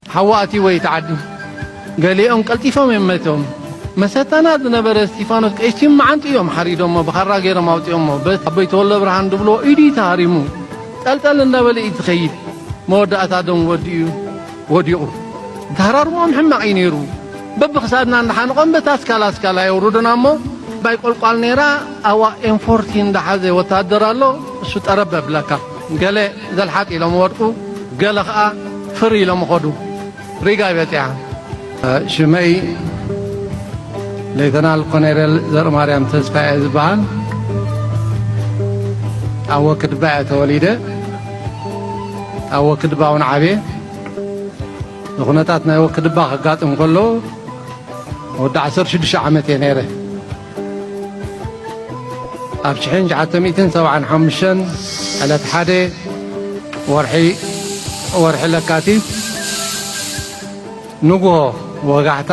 ሃዋእቲ ወይ ተዓዲ ገሊኦም ቀልጢፎም እዮም መቶም መሰተና ዝነበረ እስቲፋኖስ ቀይሲም መዓንጢ እዮም ሓሪዶሞ ብኻራ ገይሮም ኣውፅኦሞ ኣቦይ ተወልደ ብርሃን ድብልዎ ኢዱ እዩ ተሃሪሙ ጠልጠል እንዳበለ እዩ ዝኸይድ መወዳእታ ደም ወዲኡ ወዲቑ ተሃራርሞም ሕማቕ እዩ ነይሩ በብክሳድና እንዳሓንቖም በታ ኣስካላ ኣስካላ የውርዱና እሞ ባይ ቆልቋል ነይራ ኣዋ ኤንፎርቲ እንዳሓዘ ወታደር ኣሎ እሱ ጠረብ ኣብለካ ገለ ዘልሓጥ ኢሎም ወድቁ ገለ ኸኣ ፍር ኢሎም ኸዱ ሪጋ ይበጺዓ። ሽመይ ሌተናል ኮኔሬል ዘርማርያም ተስፋ እየ ዝበሃል ኣብ ወክድባ እየ ተወሊደ ኣብ ወክድባ እውን ዓብየ ንኩነታት ናይ ወክድባ ከጋጥም ከሎ ወዲ ዓሰርተ ሽዱሽተ ዓመት እየ ነይረ ኣብ ሽሕን ትሽዓተ ሚእትን ሰብዓን ሓሙሽተን ዕለት ሓደ ወርሒ ወርሒ ለካቲት ንግሆ ወጋሕታ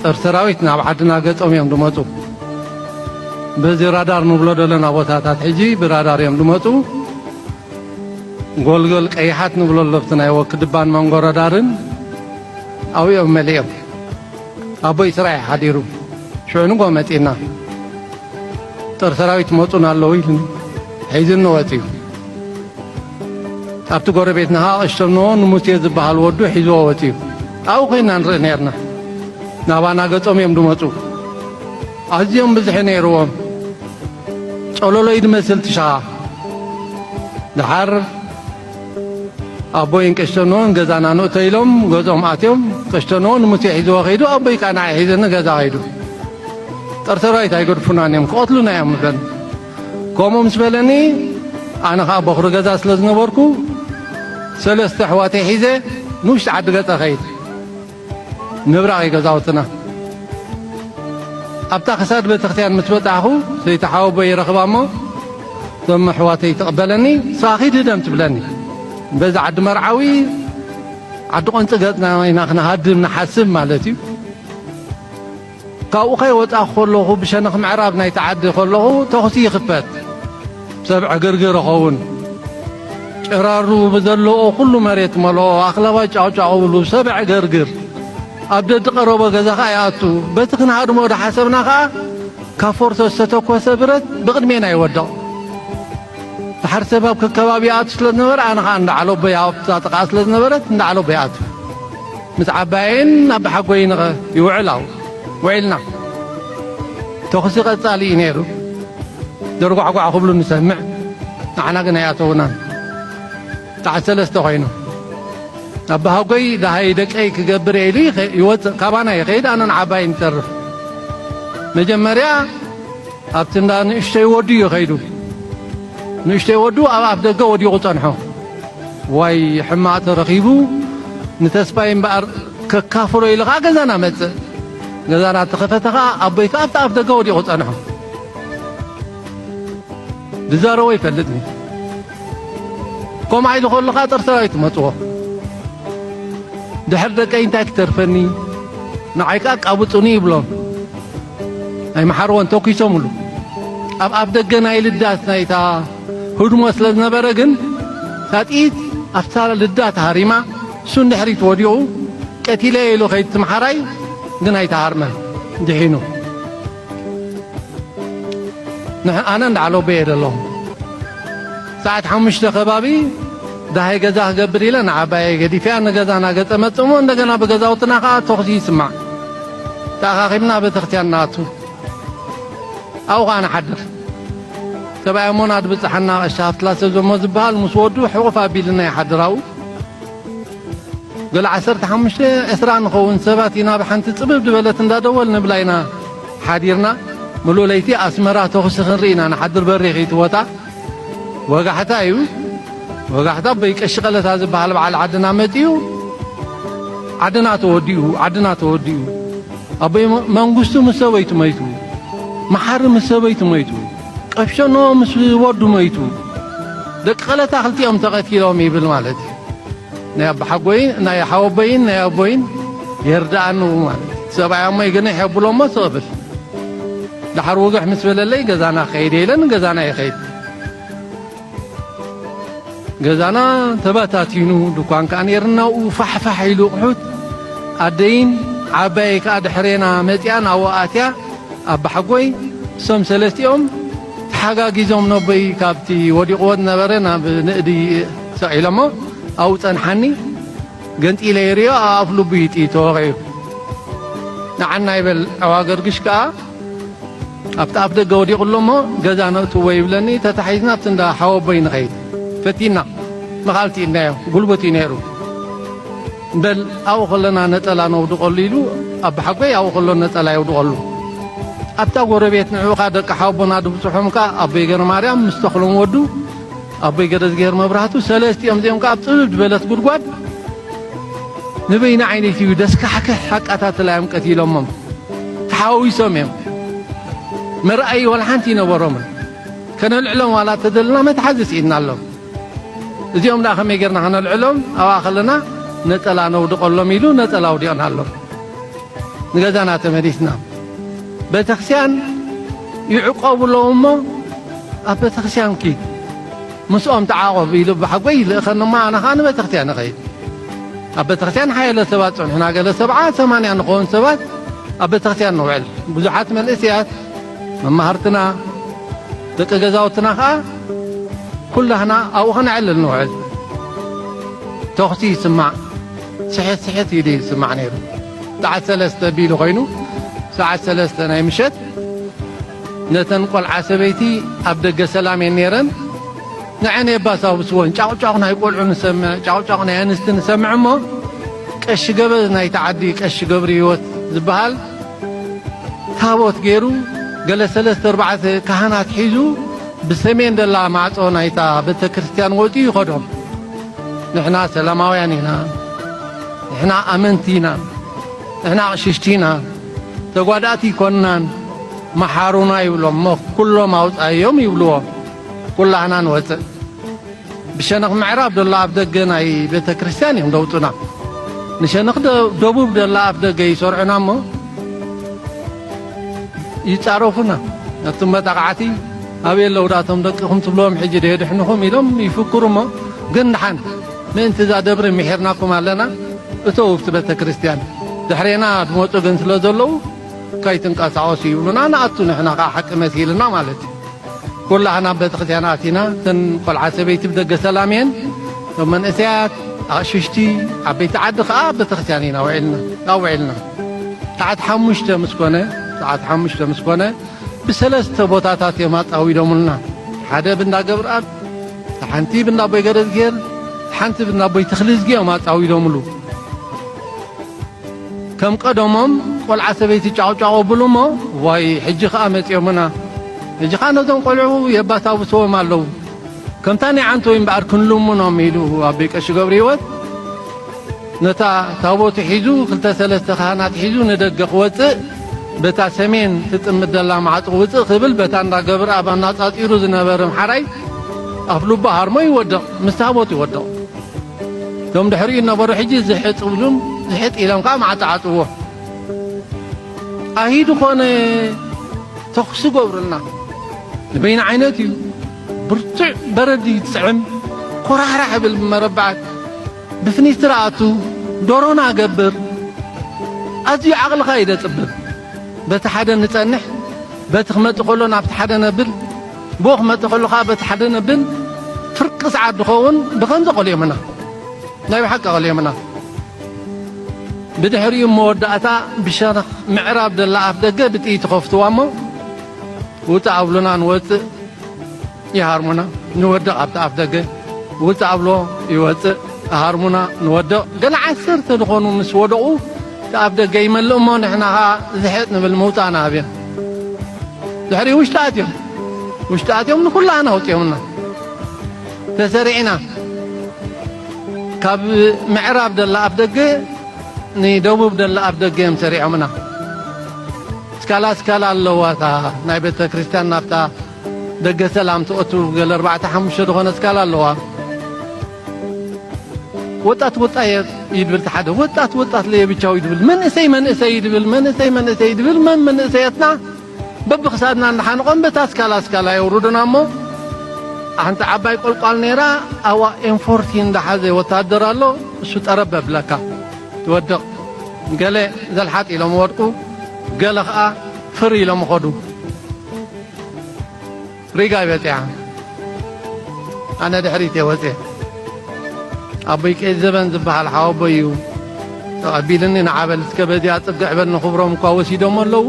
ጦር ሰራዊት ናብ ዓድና ገጾም እዮም ዝመፁ በዚ ራዳር ንብሎ ዘለና ቦታታት ሕጂ ብራዳር እዮም ዝመፁ ጎልጎል ቀይሓት ንብሎ ለብቲ ናይ ወክድባን መንጎረዳርን ኣብኦም መሊኦም ኣቦይ ስራይ ሓዲሩ ሽዑ ንጎ መጺና ጦር ሰራዊት መጹን ኣለዉ ኢሉ ሒዝኒ ወጺኡ ኣብቲ ጎረቤት ንሃቕሽቶም ንዎ ንሙሴ ዝበሃል ወዱ ሒዝዎ ወፂኡ ኣብኡ ኮይና ንርኢ ነርና ናባና ገጾም እዮም ድመፁ ኣዝዮም ብዝሒ ነይርዎም ጸሎሎይ ድመስል ትሻ ድሓር ኣቦይን ቀሽተኖን ገዛና ንእቶ ኢሎም ገዝኦም ኣትዮም ቀሽተኖ ንሙሴ ሒዝዎ ከይዱ ኣቦይ ከዓ ንዓይ ሒዘ ንገዛ ከይዱ ጠርተራዊት ኣይገድፉናን እዮም ክቐትሉና እዮም ንበል ከምኡ ምስ በለኒ ኣነ ከዓ በኹሪ ገዛ ስለ ዝነበርኩ ሰለስተ ኣሕዋተይ ሒዘ ንውሽጢ ዓዲ ገፀ ኸይድ ምብራቕ እዩ ገዛውትና። ኣብታ ክሳድ ቤተክርስትያን ምስ በጻሕኹ ሰይቲ ሓወቦይ ይረኽባ እሞ እቶም ኣሕዋተይ ትቕበለኒ ንሳ ኺድ ህደም ትብለኒ። በዚ ዓዲ መርዓዊ ዓዲ ቖንጺ ገጽና ኢና ክንሃድም ንሓስብ ማለት እዩ። ካብኡ ከይወጻኹ ከለኹ ብሸነኽ ምዕራብ ናይቲ ዓዲ ከለኹ ተኹሲ ይኽፈት። ሰብ ዕግርግር እኸውን። ጭራሩ ብዘለኦ ኩሉ መሬት መልኦ። ኣኽላባት ጫቕጫቕ እብሉ። ሰብ ዕግርግር። ኣብ ደዲ ቀረቦ ገዛ ከኣ ይኣቱ። በቲ ክንሃድሞ ዳሓሰብና ከኣ ካብ ፎርቶ ዝተተኮሰ ብረት ብቕድሜና ይወድቕ። ደሓር ሰብ ኣብ ከከባቢ ይኣቱ ስለ ዝነበረ ኣነ ኸኣ እንዳ ዓሎቦይ ኣብታ ጥቓኣ ስለ ዝነበረት እንዳ ዓሎቦይ ይኣቱ ምስ ዓባየይን ኣቦሓጎይን ኸ ይውዕል ኣብኡ ውዒልና ተኹሲ ቐጻሊ እዩ ነይሩ ደርጓዕጓዕ ክብሉ ንሰምዕ ንዓና ግን ኣይኣተውናን ጣዕ ሰለስተ ኮይኑ ኣቦሓጎይ ደሃይ ደቀይ ክገብር እየ ኢሉ ይወፅእ ካባና ይኸይድ ኣነን ዓባይን ይተርፍ መጀመርያ ኣብቲ እንዳ ንእሽተይ ወዱ እዩ ከይዱ። ንእሽተይ ወዱ ኣብ ኣፍ ደገ ወዲቑ ጸንሖ። ዋይ ሕማቕ ተረኺቡ ንተስፋይ እምበኣር ከካፍሎ ኢሉ ኸኣ ገዛና መጽእ። ገዛና ተኸፈተ ኸኣ ኣቦይ ከኣ ኣብቲ ኣፍ ደገ ወዲቑ ጸንሖ። ዝዛረቦ ይፈልጥኒ ከምኡ ኢሉ ከሎ ኸኣ ጦር ሰራዊት መጽዎ። ድሕሪ ደቀይ እንታይ ክተርፈኒ ንዓይ ከኣ ቃቡጹኒ ይብሎም። ናይ መሓርወን ተኲሶምሉ ኣብ ኣፍ ደገ ናይ ልዳት ናይታ ህድሞ ስለ ዝነበረ ግን እታ ጥይት ኣብታ ልዳት ሃሪማ እሱ ንድሕሪት ወዲቑ ቀቲለየ ኢሉ ከይድ ትምሓራይ ግን ኣይተሃርመን ድሒኑ ኣነ እንዳዓለበየ ደለኹ ሰዓት ሓሙሽተ ከባቢ ደሃይ ገዛ ክገብር ኢለ ንዓባየይ ገዲፈያ ንገዛና ገጸ መጽእ እሞ እንደገና ብገዛውትና ከኣ ተኹሲ ይስማዕ። ተኣኻኺብና ቤተክርስትያን ንኣቱ። ኣብኡ ከኣ ንሓድር። ሰብኣያ እሞ ናድ ብጽሓና ቀሺ ሃፍትላ ሰብ ዘሞ ዝበሃል ምስ ወዱ ሕቑፍ ኣቢልና ይሓድር ኣብኡ። ገለ ዓሰርተ ሓሙሽተ ዕስራ ንኸውን ሰባት ኢና ብሓንቲ ጽብብ ዝበለት እንዳ ደወል ንብላ ኢና ሓዲርና። ምሉእ ለይቲ ኣስመራ ተኹሲ ክንርኢ ኢና ንሓድር በሪኽ እዩ እቲ ቦታ። ወጋሕታ እዩ ወጋሕታ ኣቦይ ቀሺ ቀለታ ዝበሃል በዓል ዓድና መጺኡ ዓድና ተወዲኡ ዓድና ተወዲኡ ኣቦይ መንግስቱ ምስ ሰበይቱ መይቱ መሓሪ ምስ ሰበይቱ መይቱ ቀብሸኖ ምስ ወዱ መይቱ ደቂ ቀለታ ክልቲኦም ተቐቲሎም ይብል ማለት እዩ ናይ ኣቦሓጎይን ናይ ሓወቦይን ናይ ኣቦይን የርድኣኒ ማለት ሰብኣይ ኣሞ ይገንሕ የብሎ እሞ ስቕ ብል ድሓር ውግሕ ምስ በለለይ ገዛና ከይድ የኢለን ገዛና ይኸይድ ገዛና ተበታቲኑ ድኳን ከዓ ነርና ኡ ፋሕፋሕ ኢሉ ቕሑት ኣደይን ዓባየይ ከዓ ድሕሬና መፅኣን ኣብኡ ኣትያ ኣባሓጎይ እሶም ሰለስቲኦም ተሓጋጊዞም ነቦይ ካብቲ ወዲቕዎ ዝነበረ ናብ ንእዲ ሰቒሎሞ ኣብኡ ጸንሓኒ ገንጢለ ይርእዮ ኣብ ኣፍ ልቡ እዩ ጥይት ተወቒዑ ንዓና ይበል ዕዋገርግሽ ከኣ ኣብቲ ኣፍ ደገ ወዲቑ ኣሎሞ ገዛ ነእትዎ ይብለኒ ተታሒዝና ኣብቲ እንዳ ሓወቦይ ንኸይድ ፈቲና ንኻልቲ ኢድናዮ ጉልቡት እዩ ነይሩ በል ኣብኡ ከለና ነጠላ ነውድቐሉ ኢሉ ኣቦሓጎይ ኣብኡ ከሎ ነጠላ የውድቐሉ። ኣብታ ጎረቤት ንዕኡ ከኣ ደቂ ሓወቦና ድብጽሖም ከኣ ኣቦይ ገረማርያም ምስ ተኽሎም ወዱ ኣቦይ ገረዝግሄር መብራህቱ ሰለስቲኦም እዚኦም ከኣ ኣብ ጽብብ ዝበለት ጉድጓድ ንበይኒ ዓይነይቲ እዩ ደስካሕክሕ ኣቃታትላ እዮም ቀቲሎሞም ተሓዋዊሶም እዮም መርኣዪ ዋላ ሓንቲ ይነበሮምን ከነልዕሎም ዋላ ተደልና መትሓዚ ስኢንናሎም እዚኦም ደኣ ከመይ ጌርና ከነልዕሎም ኣብኣ ከለና ነጸላ ነውድቐሎም ኢሉ ነጸላ ኣውዲቕና ኣሎ ንገዛና ተመሊስና ቤተክርስቲያን ይዕቆብሎም እሞ ኣብ ቤተክርስቲያን ኪድ ምስኦም ተዓቖብ ኢሉ ብሓጎይ ይልእኸኒ እሞ ኣነ ከዓ ንቤተክርስቲያን ይኸይድ ኣብ ቤተክርስቲያን ሓያለ ሰባት ጸንሑና ገለ ሰብዓ ሰማንያ ንኸውን ሰባት ኣብ ቤተክርስቲያን ንውዕል ብዙሓት መንእስያት መማህርትና ደቂ ገዛውትና ከኣ ኩላህና ኣብኡ ከነዕልል ንውዕል ተኹሲ ይስማዕ ስሕት ስሕት ኢሉ ይስማዕ ነይሩ ሰዓት ሰለስተ ቢሉ ኮይኑ ሰዓት ሰለስተ ናይ ምሸት ነተን ቆልዓ ሰበይቲ ኣብ ደገ ሰላም እየን ነይረን ንዐን የባሳውስወን ጫቑጫቑ ናይ ቆልዑ ንሰምዕ ጫቑጫቑ ናይ ኣንስቲ ንሰምዕ እሞ ቀሺ ገበዝ ናይቲ ዓዲ ቀሺ ገብሪ ህይወት ዝበሃል ታቦት ገይሩ ገለ ሰለስተ ኣርባዕተ ካህናት ሒዙ ብሰሜን ደላ ማዕጾ ናይታ ቤተ ክርስቲያን ወፂኡ ይኸዶም ንሕና ሰላማውያን ኢና ንሕና ኣመንቲ ኢና ንሕና ኣቕሽሽቲ ኢና ተጓዳእቲ ይኮናን መሓሩና ይብሎም እሞ ኩሎም ኣውፃዮም ይብልዎ ኩላህና ንወፅእ ብሸነኽ ምዕራብ ደሎ ኣፍደገ ናይ ቤተ ክርስቲያን እዮም ደውጡና ንሸነኽ ደቡብ ደላ ኣፍደገ ይሰርዑና እሞ ይጻረፉና ነቶም መጣቕዓቲ ኣበየ ኣለውዳቶም ደቅኹም ትብልዎም ሕጂ ዶ የድሕንኹም ኢሎም ይፍክሩ እሞ ግን ድሓን ምእንቲ እዛ ደብሪ ምሒርናኩም ኣለና እተው ኣብቲ ቤተ ክርስቲያን ድሕሬና ዝመፁ ግን ስለ ዘለዉ ከይትንቀሳቀሱ ይብሉና ንኣቱ ንሕና ከኣ ሓቂ መሲልና ማለት እዩ ኩላህና ኣብ ቤተክርስትያን ኣቲና እተን ቆልዓ ሰበይቲ ብደገ ሰላም እየን እቶም መንእሰያት ኣቕሽሽቲ ዓበይቲ ዓዲ ከኣ ቤተክርስትያን ኢና ውዒልና ኣውዒልና ሰዓት ሓሙሽተ ምስ ኮነ ሰዓት ሓሙሽተ ምስ ኮነ ብሰለስተ ቦታታት እዮም ኣጻዊዶምልና ሓደ ብንዳ ገብርኣብ ሓንቲ ብንዳ ኣቦይ ገረዝጌር ሓንቲ ብንዳ ኣቦይ ተኽልዝጊ እዮም ኣጻዊዶምሉ ከም ቀደሞም ቆልዓ ሰበይቲ ጫቑጫቑ ኣብሉ እሞ ዋይ ሕጂ ከኣ መጺኦምና ሕጂ ከኣ ነዞም ቆልዑ የባሳብስዎም ኣለዉ ከምታ ናይ ዓንተወይ እምበኣር ክንልምኖም ኢሉ ኣቦይ ቀሺ ገብረሂወት ነታ ታቦቱ ሒዙ ክልተ ሰለስተ ካህናት ሒዙ ንደገ ክወጽእ በታ ሰሜን ትጥምት ዘላ ማዕጾ ውፅእ ክብል በታ እንዳ ገብረ ኣብ ኣናጻጺሩ ዝነበረ ምሓራይ ኣፍልቦ ሃርሞ ይወድቕ ምስ ታቦት ይወድቕ እቶም ድሕሪኡ ዝነበሩ ሕጂ ዝሕጥ ኢሉም ዝሕጥ ኢሎም ከኣ መዓጣዓጥዎ ኣሂ ዝኾነ ተኹሲ ገብሩልና ንበይኒ ዓይነት እዩ ብርቱዕ በረድ ይጥዕም ኮራሕራሕ ይብል ብመረበዓት ብፍኒስትር ኣቱ ዶሮና ገብር ኣዝዩ ዓቕልኻ እዩ ደጽብብ በቲ ሓደ ንጸንሕ በቲ ክመጽእ ከሎ ናብቲ ሓደ ነብል ብኡ ክመጽእ ከሎ ከኣ በቲ ሓደ ነብን ፍርቂ ሰዓት ዝኸውን ብኸምዚ ቀልዮምና ናይ ብሓቂ ቀልዮምና ብድሕሪኡ መወዳእታ ብሸነኽ ምዕራብ ዘላ ኣፍ ደገ ብጥይት ይኸፍትዋ እሞ ውፅእ ኣብሉና ንወፅእ ይሃርሙና ንወድቕ ኣብቲ ኣፍ ደገ ውፅእ ኣብሎ ይወፅእ ሃርሙና ንወድቕ ገለ ዓሰርተ ዝኾኑ ምስ ወደቑ እቲ ኣፍ ደገ ይመልእ እሞ ንሕና ኸዓ ዝሕጥ ንብል ምውፃእና ኣብዮም ድሕሪኡ ውሽጢ ኣትዮም ውሽጢ ኣትዮም ንኹላና ኣውፂኦምና ተሰሪዕና ካብ ምዕራብ ደላ ኣፍ ደገ ንደቡብ ደላ ኣፍ ደገ እዮም ሰሪዖምና ስካላ ስካላ ኣለዋ እታ ናይ ቤተ ክርስቲያን ናብታ ደገ ሰላም ትኦቱ ገለ ኣርባዕተ ሓሙሽተ ዝኾነ ስካላ ኣለዋ ወጣት ወጣየ ይድብል ተሓደ ወጣት ወጣት ለየብቻው ይድብል መንእሰይ መንእሰይ ይድብል መንእሰይ መንእሰይ ይድብል መን መንእሰያትና በብክሳድና እናሓንቆም በታ ስካላ ስካላ የውርዱና እሞ ሓንቲ ዓባይ ቆልቋል ነይራ ኣዋ ኤንፎርቲ እንዳሓዘ ወታደር ኣሎ እሱ ጠረብ ኣብለካ ትወድቕ ገለ ዘልሓጥ ኢሎም ወድቁ ገለ ኸዓ ፍር ኢሎም ኸዱ ሪጋ እይ በጺሓ ኣነ ድሕሪት እየ ወጽየ ኣቦይ ቀይት ዘበን ዝብሃል ሓወቦይ እዩ ተቐቢልኒ ንዓበል እስከ በዚኣ ጽግዕ በል ንኽብሮም እኳ ወሲዶሞ ኣለዉ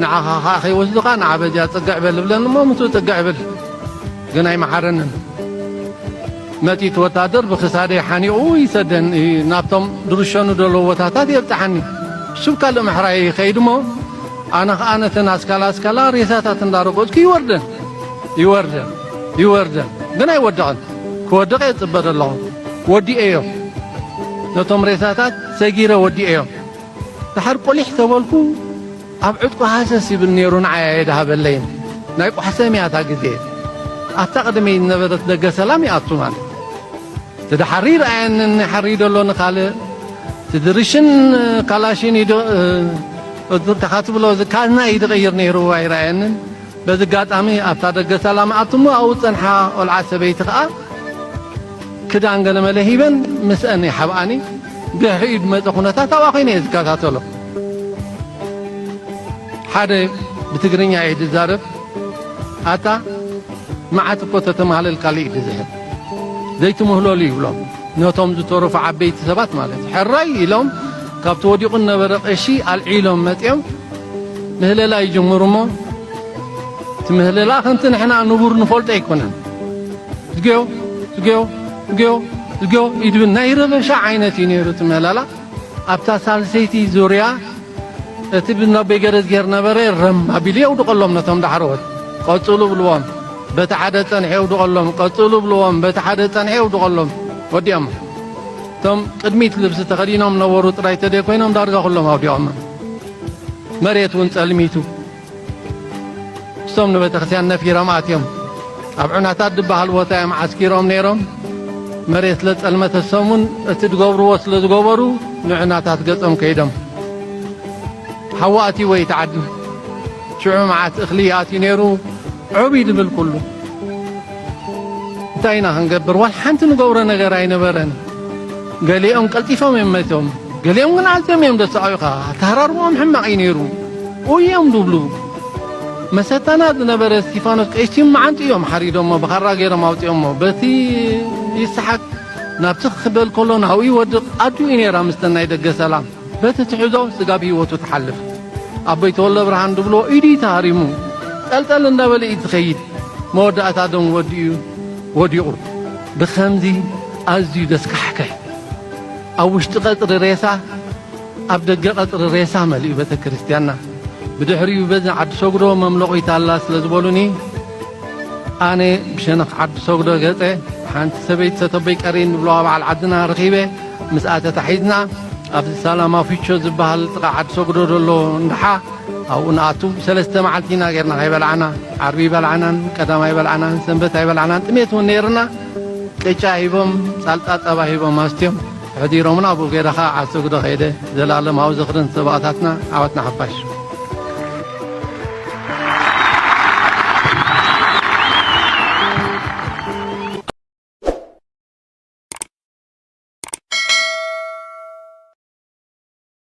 ንዓኻ ኸዓ ከይወስዱኻ ንዓ በዚኣ ጽግዕ በል እብለኒ እሞ ምስኡ ጽግዕ እብል ግን ኣይመሓረንን ነቲ እቲ ወታደር ብክሳደይ ሓኒቑ ይሰደኒ ናብቶም ዝርሸኑ ዘለዉ ቦታታት የብጽሓኒ ስብ ካልእ ምሕራየይ ይኸይድ እሞ ኣነ ኸኣ ነተን ኣስካላ ኣስካላ ሬሳታት እንዳረገጽኩ ይወርደን ይወርደን ይወርደን ግን ኣይወድቕን ክወድቕ እየ ዝጽበ ዘለኹ ወዲኤዮ ነቶም ሬሳታት ሰጊረ ወዲኤዮ ድሓር ቁሊሕ ተበልኩ ኣብ ዕጥቁ ሃሰስ ይብል ነይሩ ንዓይ ኣየድሃበለይን ናይ ቋሕሰም እያ እታ ግዜ ኣብታ ቅድመይ ዝነበረት ደገ ሰላም ይኣቱ ማለት እቲ ድሓሪ ይርኣየኒ ንሓሪ ደሎ ንካልእ እቲ ድርሽን ካላሽን ይድ እካ ትብሎ እዚ ካዝና እዩ ዝቕይር ነይሩ ኣይረኣየንን በዚ ኣጋጣሚ ኣብታ ደገ ሰላም ኣቱ እሞ ኣብኡ ዝፀንሓ ቆልዓ ሰበይቲ ከዓ ክዳን ገለመለ ሂበን ምስአን ይሓብኣኒ ድሕሪኡ ዝመፀ ኩነታት ኣብኣ ኮይነ እየ ዝከታተሎ ሓደ ብትግርኛ እየ ዝዛረብ ኣታ መዓት እኮ ተተማህለል ካልእ ግዝሀብ ዘይትምህለሉ ይብሎም ነቶም ዝተረፉ ዓበይቲ ሰባት ማለት እዩ ሕራይ ኢሎም ካብቲ ወዲቑ ነበረ ቀሺ ኣልዒሎም መፂኦም ምህለላ ይጅምሩ እሞ እቲ ምህለላ ከምቲ ንሕና ንቡር ንፈልጦ ኣይኮነን ዝገዮ ዝገዮ ዝገዮ ዝገዮ ኢድብን ናይ ረበሻ ዓይነት እዩ ነይሩ እቲ ምህለላ ኣብታ ሳልሰይቲ ዙርያ እቲ ብነቢ ገረዝጌር ነበረ ረም ኣቢሉ የውድቐሎም ነቶም ዳሕረዎት ቀጽሉ ብልዎም በቲ ሓደ ጸንሐ የውድቐሎም ቀጽሉ ብልዎም በቲ ሓደ ጸንሐ የውድቐሎም ወዲኦም እቶም ቅድሚት ልብሲ ተኸዲኖም ነበሩ ጥራይ ተደይ ኮይኖም ዳርጋ ኩሎም ኣውዲቖም መሬት እውን ጸልሚቱ ምስቶም ንቤተክርስቲያን ነፊሮም ኣትዮም ኣብ ዑናታት ድበሃል ቦታ እዮም ዓስኪሮም ነይሮም መሬት ስለ ጸልመተ ሰሙን እቲ ዝገብርዎ ስለ ዝገበሩ ንዑናታት ገጾም ከይዶም ሓዊ ኣትይዎ እዩ ተዓዲ ሽዑ መዓት እኽሊ ኣትዩ ነይሩ ዑብይ ድብል ኩሉ እንታይ ኢና ክንገብር ዋላ ሓንቲ ንገብሮ ነገር ኣይነበረን ገሊኦም ቀልጢፎም እዮም መይቶም ገሊኦም ግን ኣዝዮም እዮም ዘሳቕዩኻ ኣተሃራርምኦም ሕማቕ እዩ ነይሩ ኡይ እዮም ዝብሉ መሰታና ዝነበረ እስጢፋኖስ ቀይሲም መዓንጡ እዮም ሓሪዶሞ ብኻራ ገይሮም ኣውፂኦሞ በቲ ይስሓቅ ናብቲ ክበል ከሎ ናብኡ ይወድቕ ኣዱ እዩ ነይራ ምስ ሰናይ ደገ ሰላም በቲ ትሕዞ ስጋብ ህይወቱ ትሓልፍ ኣቦይ ተወልደ ብርሃን ዝብሎ ኢዱ እዩ ተሃሪሙ ጠልጠል እንዳበለ እዩ ዝኸይድ መወዳእታ ደም ወዲኡ ወዲቑ ብኸምዚ ኣዝዩ ዘስካሕክሕ ኣብ ውሽጢ ቀጽሪ ሬሳ ኣብ ደገ ቀጽሪ ሬሳ መሊኡ ቤተክርስትያንና ብድሕሪኡ በዚ ዓዲ ሰጉዶ መምለቒት ኣላ ስለ ዝበሉኒ ኣነ ብሸነኽ ዓዲ ሰጉዶ ገጸ ሓንቲ ሰበይቲ ሰተቦይ ቀሪን ንብለዋ በዓል ዓድና ረኺበ ምስኣ ተታሒዝና ኣብዚ ሳላማ ፊቾ ዝበሃል ጥቓ ዓዲ ሰጉዶ ዘሎ እንዳሓ ኣብኡ ንኣቱ ሰለስተ መዓልቲ ኢና ጌርና ከይበላዕና ዓርቢ ይበላዕናን ቀዳማ ይበላዕናን ሰንበት ኣይበላዕናን ጥሜት እውን ነይርና ቅጫ ሂቦም ጻልጣ ጸባ ሂቦም ኣስትዮም ሕዲሮምና ኣብኡ ገይረ ከዓ ዓሰጉዶ ከይደ ዘላለማዊ ዝኽርን ሰባእታትና ዓወትና ሓፋሽ